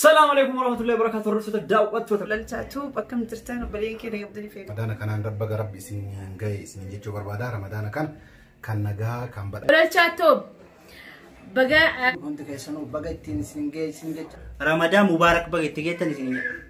Salaamu alaikum warahmatullahi wabarakatuh. Hordoftoota daawwattoota. Lalchaatuu bakka jirtan obboleen keenya abdii feetu. Ramadaana kanaan rabba garabbi isin gahe isin jechuu barbaada. Ramadaana kan kan nagaa kan badha. Lalchaatuu baga Hundi keessanuu baga ittiin isin gahe isin jecha. Ramadaan Mubaarak baga itti geettan isin jedha.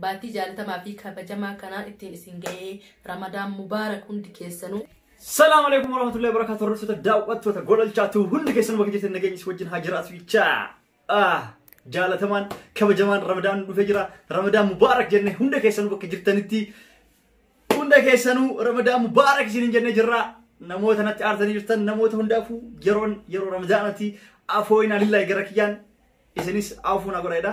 Baatii jaalatamaa fi kabajamaa kanaa ittiin isin ga'ee Ramadaan Mubaarak hundi keessanuu. Salaam alaikum warahmatullahi wabarakatuh hordoftoota daawwattoota gololchaatu hundi keessan bakka jirtan nageenyis wajjin haa jiraatu jechaa. Ah, Jaalatamaan kabajamaan Ramadaan dhufee jira. Ramadaan Mubaarak jenne hunda keessanuu bakka jirtanitti hunda keessanuu Ramadaan Mubaarak isiniin jennee jirra. Namoota natti aartanii jirtan namoota hundaafuu yeroon yeroo Ramadaanati afooyinaa lillahi gara kiyyaan isinis afuun agoreedha.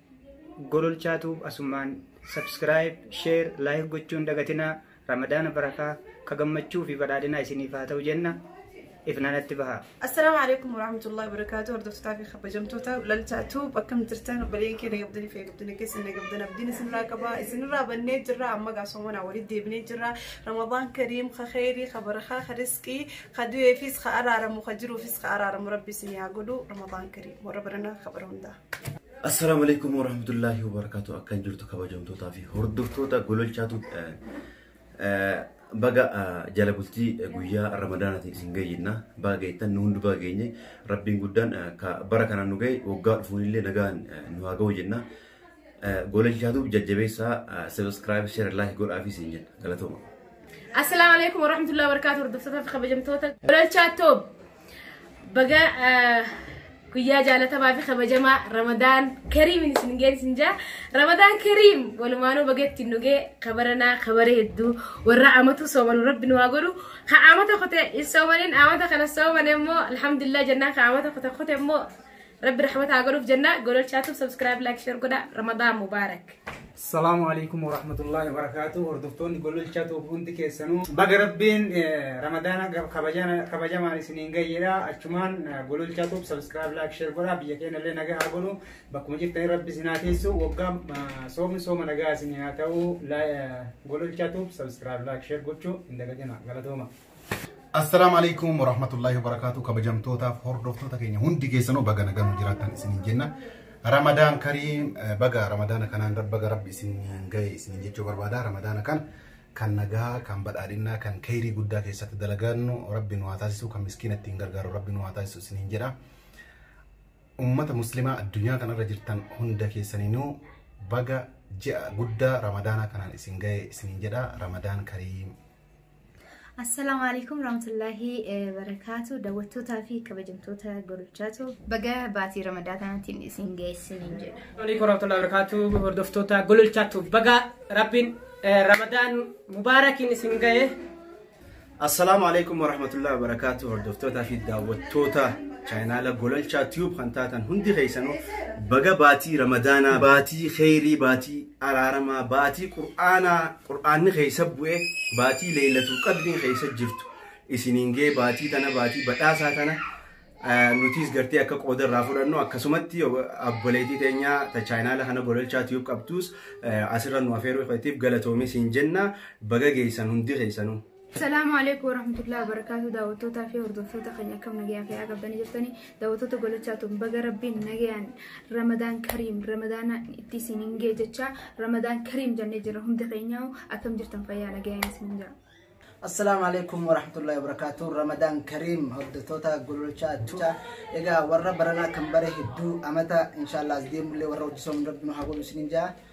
Gololchaa Tuub Asumaan Subscribe, Share, Like gochuun dagatinaa Ramadaana barakaa ka gammachuu fi badhaadhinaa isiniif haa ta'u jenna ifnaanatti bahaa. Assalaamu alaikum warahmatullahi wabarakatuh hordoftotaa fi kabajamtoota lalchaa tuub akkam jirtan obboleen keenya gabdanii fi gabdanii keessan gabdan abdiin isinirraa qaba isinirraa bannee jirra amma gaasoomanaa walitti deebinee jirra ramadaan kariim ka kheyrii ka barakaa ka risqii ka du'eefis ka araaramu ka jiruufis ka araaramu rabbi isin yaa godhu ramadaan kariim warra baranaa ka bara hundaa Assalamu alaikum warahmatullahi wabarakatuh akkan jirtu kabajamtootaa fi hordoftoota gololchaatu baga jala bultii guyyaa ramadaanaatiin isin gayyinna baga geettan nu hundu baga geenye rabbiin guddaan ka bara kanaan nu gahe waggaa dhufuun illee nagaan nu haa gahu jenna gololchaatu jajjabeessaa subscribe share like godhaa fi isin jenna galatooma. Assalamu alaikum warahmatullahi wabarakatuh hordoftoota fi kabajamtoota gololchaa toob. Baga guyyaa jaalatamaa fi kabajamaa Ramadaan Kariim isin ga'e isin jaa. Ramadaan Kariim walumaanuu baga ittiin dhugee kabaranaa kabare hedduu warra amatu soomanu rabbi nu haa godhu. Ka amata kute hin soomaniin amata kana soomane immoo alhamdulillah jennaan ka amata kute kute immoo Rabbi rahmata haa godhuuf jenna. Gololchaa tub subscribe like share godha. Ramadan Mubarak. Salaamu alaikum warahmatullahi wabarakatuh. Hordoftoonni gololchaa tuub hundi keessanuu. Baga rabbiin eh, ramadaana gab- kabajana- kabajamaan isiniin gayyeedha. Achumaan eh, gololchaa tuub subscribe like share godha. Biyya keenya illee nagaa haa godhu. Bakkuma jirtanii rabbi isin haa teessu. Waggaa eh, soomni sooma nagaa isin haa ta'u. La- eh, Gololchaa tuub subscribe like share gochuu hin dagatina. Galatooma. Assalaamu alaikum warahmatullahi wabarakatuh kabajamtootaaf hordoftoota keenya hundi keessanuu baga nagaan nu jiraattan isiniin jenna. Ramadaan kariim eh, baga ramadaana kanaan rab- baga rabbi isiniin ga'e isiniin jechuu barbaada. Ramadaana kan kan nagaa, kan badhaadhinnaa, kan keeyrii guddaa keessatti dalagannu rabbi nu haa taasisu, kan miskiina ittiin gargaaru rabbi nu haa taasisu isiniin jedha. Uummata muslimaa addunyaa kanarra jirtan hunda keessaniinuu baga ji'a guddaa ramadaanaa kanaan isin ga'e isiniin jedha. Ramadaan kariim. Assalaamu alaikum rahmatullahi barakaatu daawwattootaa fi kabajamtoota gorichaatu baga baatii ramadaa kanaatiin isin geessin hin jedha. Waliin koraatolaa barakaatu hordoftoota gololchaatu baga rabbiin ramadaan mubaarakiin isin ga'e. Assalaamu alaikum warahmatullahi wabarakaatu hordoftootaa fi daawwattoota chaayinaala gololchaa tiyuub kan taatan hundi keessanuu baga baatii ramadaanaa baatii kheyrii baatii araaramaa baatii qur'aanaa Qur'aanni keessa bu'e baatii leeylatul qadriin keessa jirtu isiniin ga'e baatii tana baatii badhaasaa tana nutiis gartee akka qooda irraa fudhannu akkasumatti obboleetii teenya ta chaayinaala kana gololchaa tiyuub qabduus asirra nu afeeruu keetiif galatoomii siin jenna baga geessan hundi keessanuu. Salaamu alaikum warahmatullahi wabarakatuh daawwattootaa fi hordoftoota keenya akkam nagayaan fayyaa qabdanii jirtanii daawwattoota golachaa tun baga rabbiin nagayaan ramadaan kariim ramadaana itti isin hin gee jechaa ramadaan kariim jennee jirra hunda keenyaa akkam jirtan fayyaa nagayaan isin jira. Assalaamu alaikum warahmatullahi wabarakatuh ramadaan kariim hordoftoota golachaa tuuta egaa warra baranaa kan bare hedduu amata inshaallah as deemullee warra hojjisoon rabbi nu haa godhu isin hin jaa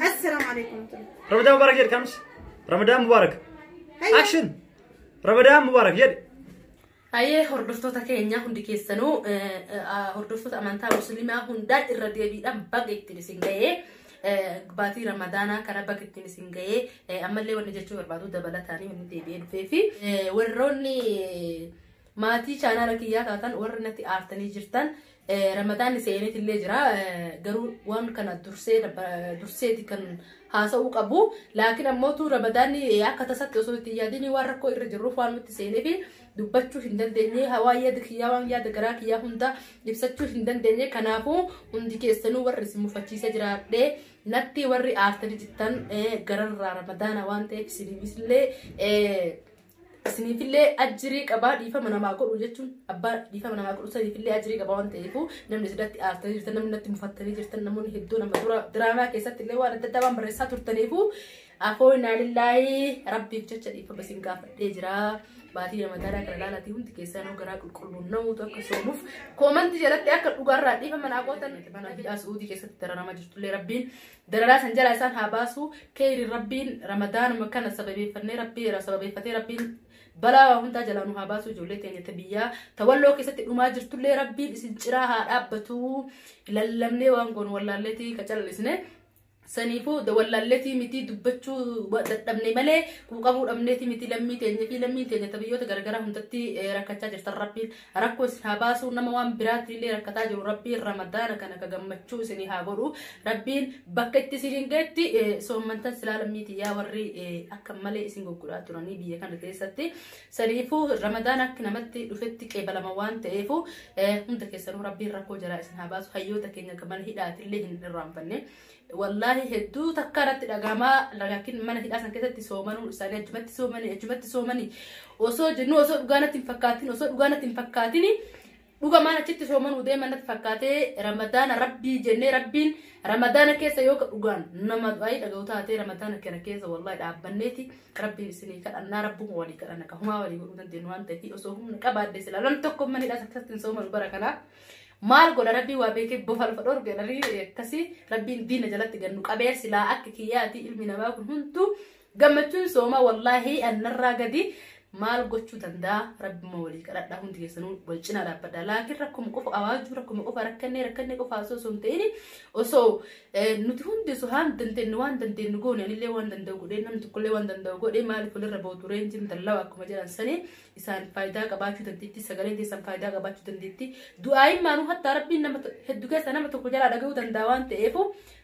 Assalamu alaikum. Ramadan Mubarak jedhe kamsi. Ramadan Mubarak. Hayya. Action. Ramadan Mubarak jedhe. Hayyee hordoftoota keenya hundi keessanuu eh, eh, ah, hordoftoota amantaa musliimaa hundaa irra deebiidhaan baga ittiin isin ga'ee eh, baatii ramadaanaa kana baga ittiin isin ga'ee eh, ammallee wanni jechuu barbaadu dabalataanii wanni deebi'ee dhufee fi eh, warroonni Maatii chaanaala kiyyaa taatan warri natti aartanii jirtan ramadaanni seeneet illee jira garuu waan kana dursee durseeti kan haasa'uu qabu laakiin ammoo tuu ramadaanni akka tasatti osoo itti yaadinii waan rakkoo irra jirruuf waan nutti seeneefi dubbachuu hin dandeenye hawaa yaada kiyyaa waan yaada garaa kiyyaa hunda ibsachuu hin dandeenye kanaafuu hundi keessanuu warri isin mufachiisa jiraadhee natti warri aartanii jirtan gararraa ramadaana waan ta'eef isin illee Isiniifillee ajjirii qabaa dhiifama namaa godhu jechuun abbaa dhiifama namaa godhu saniifillee ajjirii qabaa waan ta'eefuu namni isirratti aartanii jirtan namni natti mufattanii jirtan namoonni hedduun amma dura diraamaa keessatti illee waan adda addaa waan barreessaa turtaniifuu afoo inaalillaahi rabbiif jecha dhiifama isin gaafadhee jira. Baatii ramadaanaa kana laalaatii hundi keessaa nuu garaa qulqulluun namuutu akka soomuuf koomantii jalatti akka dhugaarraa dhiifama naa gootan mana biyyaa suudii keessatti dararamaa jirtullee rabbiin Dararaa san jalaa isaan haa baasu. Keyriin Rabbiin Ramadaanuma kana sababeeffannee Rabbii irraa sababeeffatee Rabbiin balaa waa hundaa jalaa nu haa baasu ijoollee teenya ta biyyaa ta walloo keessatti dhumaa jirtullee Rabbiin isin ciraa haa dhaabbatu lallabnee waan goonu wallaalleetii ka callisne saniifuu da wallaalleetii mitii dubbachuu wa- dadhabne malee quuqamuu dhabneetii mitii lammii teenya fi lammii teenya ta biyyoota garagaraa hundatti eh, rakkachaa jirtan Rabbiin Rakkoo isin haa baasuu nama waan biraatti illee rakkataa jiru rabbiin ramadaana kana ka gammachuu isinii haa godhu rabbiin bakka itti isiniin geetti soommantan silaa lammiiti yaa warri akka malee isin goggodhaa turanii biyya kana keessatti saniifuu ramadaan akka namatti dhufetti qeebalama waan ta'eefu hunda keessanuu rabbiin rakkoo jaraa isin haa baasu hayyoota keenya ka mana hidhaati illee hin irraanfanne Wallaahi hedduu takka irratti dhagahamaa lagakin mana hidhaa san keessatti soomanuu isaanii achumatti soomanii achumatti soomanii osoo jennu osoo dhugaa natti hin fakkaatin osoo dhugaa natti hin fakkaatin dhuga maan achitti soomanuu deeman natti fakkaatee ramadaana rabbii jennee rabbiin ramadaana keessa yoo dhugaan nama du'aayii dhaga'u taatee ramadaana kana keessa wallaahi dhaabbanneeti rabbiin isinii kadhannaa rabbuma walii kadhanna ka humaa walii godhuu dandeenyu waan ta'eef osoo humna qabaadde silaa namni tokko mana hidhaa san keessatti hin soomanu bara kanaa. maal godha rabbii waa beekee bofa lafa dhorge narii akkasii rabbiin diina jalatti gannu qabee silaa akka kiyyaati ilmi namaa kun hunduu gammachuun soomaa wallaahi annarraa gadi maal gochuu danda'a rabbima walii kadhadhaa hundi keessanuu wal cinaa dhaabbadha laakiin rakkuma qofa awaajuu rakkuma qofa rakkannee rakkannee qofa osoo osoo hin ta'in osoo nuti hundi osoo haan dandeenyu waan dandeenyu goone anillee waan danda'u godhee namni tokkollee waan danda'u godhee maaliif walirra bootu reenjiin dallaa akkuma jedhan sanii isaaniif faayidaa qabaachuu dandeetti sagaleen keessan faayidaa qabaachuu dandeetti du'aayin maanuu hattaa rabbiin nama to- heddu keessa nama tokko jalaa dhaga'uu danda'a waan ta'eef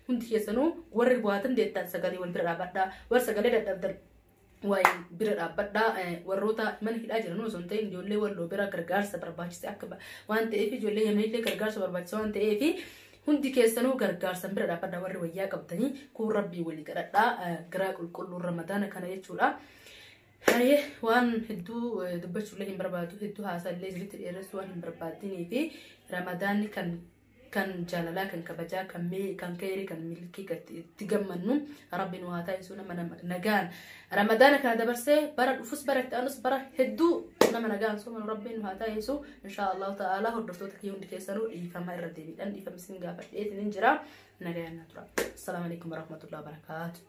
hundi keessanuu warri bu'aa dandeettan sagalee wal bira dhaabadhaa warri sagalee dadhabdan waa'ee bira dhaabbadhaa eh, warroota mana hidhaa jiran osoo hin ta'in ijoollee walloo bira gargaarsa barbaachisa akka ba- waan ta'eef ijoollee yameellee gargaarsa barbaachisa waan ta'eef hundi keessanuu gargaarsan bira dhaabbadhaa warri wayyaa qabdanii kun rabbii walii kadhadhaa eh, garaa qulqulluu ramadaana kana jechuudha. Haye waan hedduu eh, dubbachuullee hin barbaadu hedduu haasaallee isinitti dheeressuu waan hin barbaadinii fi ramadaanni kan kan jaalalaa kan kabajaa kan mee kan keerii kan milkii kan itti- itti gammannu rabbi nu haa taasisuu nama nama nagaan ramadaana kana dabarsee bara dhufus bara itti aanus bara hedduu nama nagaan soomanu rabbi nu haa taasisuu inshaa allahu ta'aalaa hordoftoota kiyya hundi keessanuu dhiifama irra deebiidhaan dhiifama isin gaafadhee isinin jira nagaan na tura assalaamu alaikum warahmatullahi wabarakaatu